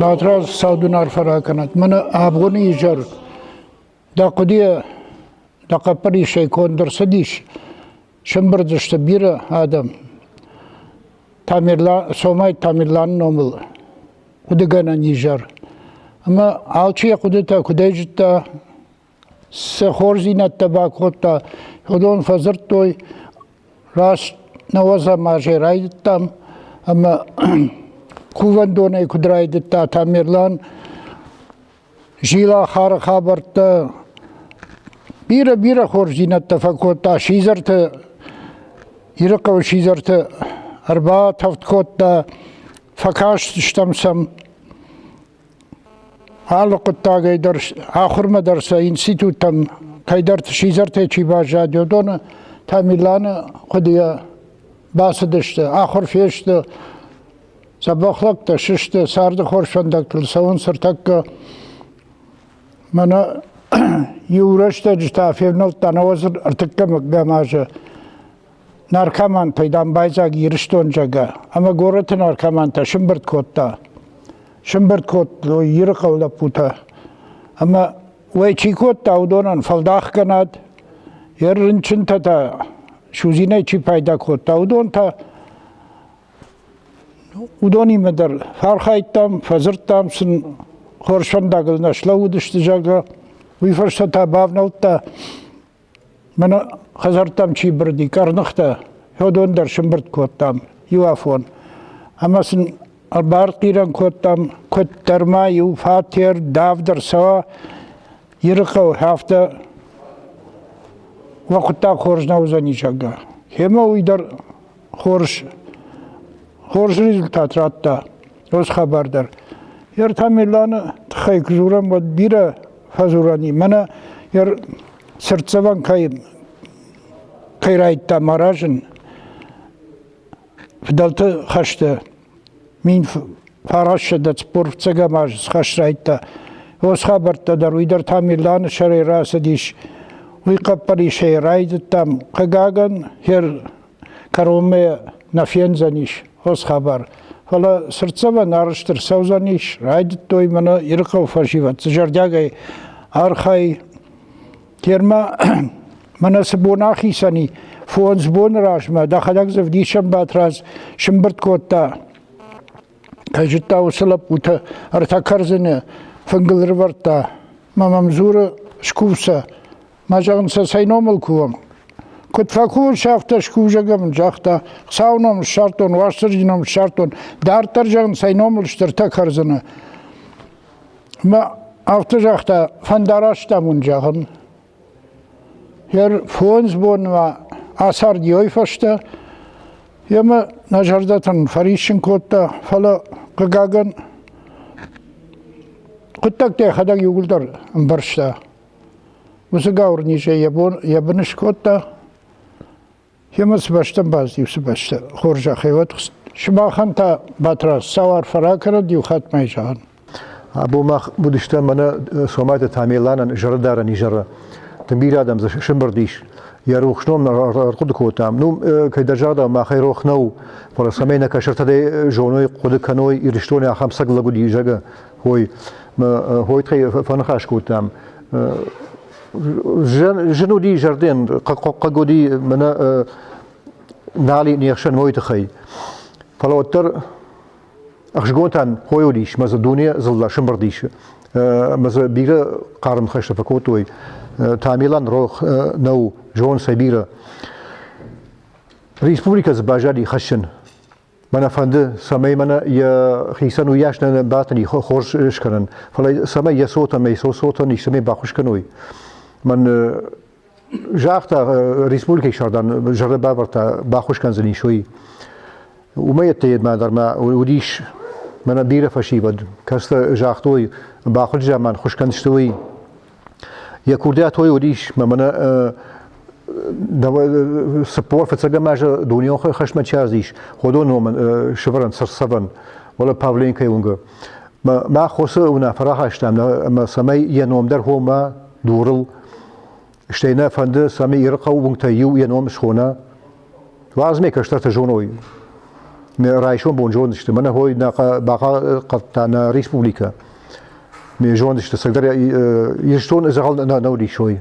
Батраз саудун арфа ракӕнӕд. Мӕнӕ абгъони изӕр дӕ хъуыдыйӕ дӕ хъӕппӕрисӕй конд ӕрцыдис. Сӕмбырдзысты бирӕ адӕм. Тамерлан, Сомай Тамерланы номыл хъуыдыгӕнӕн изӕр. Ӕмӕ алчи йӕ хъуыдытӕ куыдӕй зыдта, цы хорздзинӕдтӕ бакодта, уыдон фӕдзырдтой, раст науӕдзӕм азӕй райдыдтам, ӕмӕ кувӕндонӕй куыд райдыдта Тамерлан, Зилахары хабӕрттӕ бирӕ-бирӕ хорздзинӕдтӕ фӕкодта сидзӕрты, Ирыхъӕуы сидзӕрты ӕрбатӕвд кодта, фӕкастыстӕм сӕм. Алы хъуыддагӕй дӕр, ахуырмӕ дӕр сӕ институттӕм кӕйдӕрты сидзӕртӕй чи баззад, уыдоны Тамиланы хъуыдыйӕ бацыдысты, ахуыр фесты, Сӕ бӕхлӕгтӕ сысты, царды хорз фӕндӕгтыл цӕуынц ӕртӕккӕ. Мӕнӕ иу рӕстӕджы та февнӕлдта науӕдзыр ӕртыккӕмӕм азы наркомантӕй дамбайдзаг Ирыстон зӕгӕ, ӕмӕ горӕты наркомантӕ сымбырд кодта. Сымбырд кодтой Иры хъӕу лӕппутӕ. Ӕмӕ уӕй чи кодта, уыдонӕн фӕлдахгӕнӕд, йӕ рынчынтӕ та судзинӕй чи пайда кодта, уыдон та Уыдонимӕ дӕр фархайдтам, фӕдзырдтам сын, хорз фӕндагыл нӕ слӕууыдысты, зӕгъгӕ. Уый фӕстӕ та бавнӕлдта, мӕнӕ хӕдзӕрттӕм чи бырыди, къӕрныхтӕ. Федон дӕр сымбырд кодтам иуафон. Ӕмӕ сын ӕрбархъирӕн кодтам, куыддӕр ма иу фатер давд ӕрцӕуа Ирыхъӕуы, афтӕ уӕ хъуыддаг хорз нӕ уыдзӕни, зӕгъгӕ. Семӕ уый дӕр Хорз, хорз результат радта уыцы хабар дӕр. Йе ртӕ миланы тыххӕй куы дзурӕм, уӕд бирӕ фӕдзурӕн и. Мӕнӕ йе цыртдзӕвӕн кӕй кӕй райдта маразын фыдӕлты хӕсты Мин фарасседӕ цуппурфцӕгӕм аз схӕс райдта. Уос хабӕрттӕ дӕр уый дӕр та Миланы сӕрӕй рацыдис. Уый хъӕппӕрисӕй райдыдтам. Хъыгагӕн, хер кӕронмӕ нӕ фендзӕнис уос хабар. Фӕлӕ цыртдзӕвӕн арӕзт ӕрцӕудзӕнис. Райдыдтой мӕнӕ Ирыхъӕуы фӕсивӕд зӕрдиагӕй архай Терма мӕнӕ цы бон ахицӕни, фондз боны размӕ дӕхӕдӕг дзы вдисӕн Батрадз сымбырд кодта. Кӕй зыдта, уыцы лӕппутӕ ӕртӕ кӕрдзыны фынгыл рывӕрдта. Мӕ мӕм дзуры скувсӕ. Мӕ зӕгъын сӕ цӕй номыл кувӕм? Куыд фӕкувыс, афтӕ скувзӕгӕн, загъта. Хуыцауы ном ссардтон, Уастырджи ном ссардтон, дарддӕр зӕгъын цӕй номыл стыртӕ кӕрдзыны. Ма афтӕ загъта, фӕндараст ам уын зӕгъын. Хер фондз бонмӕ ацардиой фӕстӕ емӕ нӕ зӕрдӕтӕн фӕриссын кодта, фӕлӕ, хъыгагӕн, хъуыддӕгтӕ йӕхӕдӕг иууылдӕр ӕмбӕрста. Уыцы гауыр низ йӕ бон, йӕ бын скодта, Емӕ цы бӕстӕ бадт, уыцы бӕстӕ хорзӕхӕй уӕд сымахӕн та Батраз сау арфӕ ракӕрӕд иу хатмӕ зӕгъын. Або мах будыстӕ мӕнӕ Сомайты Тамерланӕн зӕрдӕрӕн изӕры. Тынг бирӕ адӕм дзы сымбырд ис. Йӕ рухс ном ӕрхъуыды кодтам. Ну, кӕй дӕ загъдау, махӕй рох нӕу, фӕлӕ цӕмӕй нӕ кӕсӕртӕ зоной, хъуыды кӕной, Ирыстоны ахӕм сӕг лӕг уыди, зӕгъы, хой. Хойы тыххӕй фӕныхас кодтам. Жын уди зӕрден, хъаг уди мӕнӕ нали нехсӕн мойты хай. Фӕлӕ уӕддӕр ӕхсгонтӕн хой уыдис, мӕ дзы дуне зылла сымбырдис. Мӕ дзы бирӕ хъарм хӕстӕ фӕкодтой. Тамилан рох нӕу зон сӕ бирӕ. Республикӕ дзы базади хӕссын. Мӕнӕ фӕнды, цӕмӕй мӕнӕ йӕ хицӕн уыйас нӕ бӕтӕни хорз скӕнын, фӕлӕ цӕмӕй йӕ цотӕн, мӕй цотӕн истӕмӕй баххуыс кӕной. Мӕн загъта республикӕйы сӕрдан зӕрдӕ бавӕрдта баххуыс кӕндзӕни суй. Умӕйӕдтӕ едмӕ дӕр ма уыдис мӕнӕ бирӕ фӕсивӕд, кӕцытӕ загътой, бахуыджы заман хуыскӕн сты уый. Йӕ курдиатой уыдис, мӕ мӕнӕ цыппор фыццӕгӕм азы дунеон хӕсмӕ чи ӕрзис, ходон номын сывӕрӕн сӕрсӕвӕн, уӕле Павленкойы уынгы. Мӕ хосы уынаффӕ рахастам, ӕмӕ цӕмӕй йӕ ном дӕр хома дурыл, стӕй нӕ фӕнды, цӕмӕй Иры хъӕуы уынгтӕй иу йӕ ном схона, Лазмӕ кӕстӕртӕ зоной. Райсом бон зондысты, мӕнӕ хой бахъахъхъӕдта нӕ республикӕ. Ме зондысты, сӕгдӕр Ирыстон дзӕгъӕл нау рисой.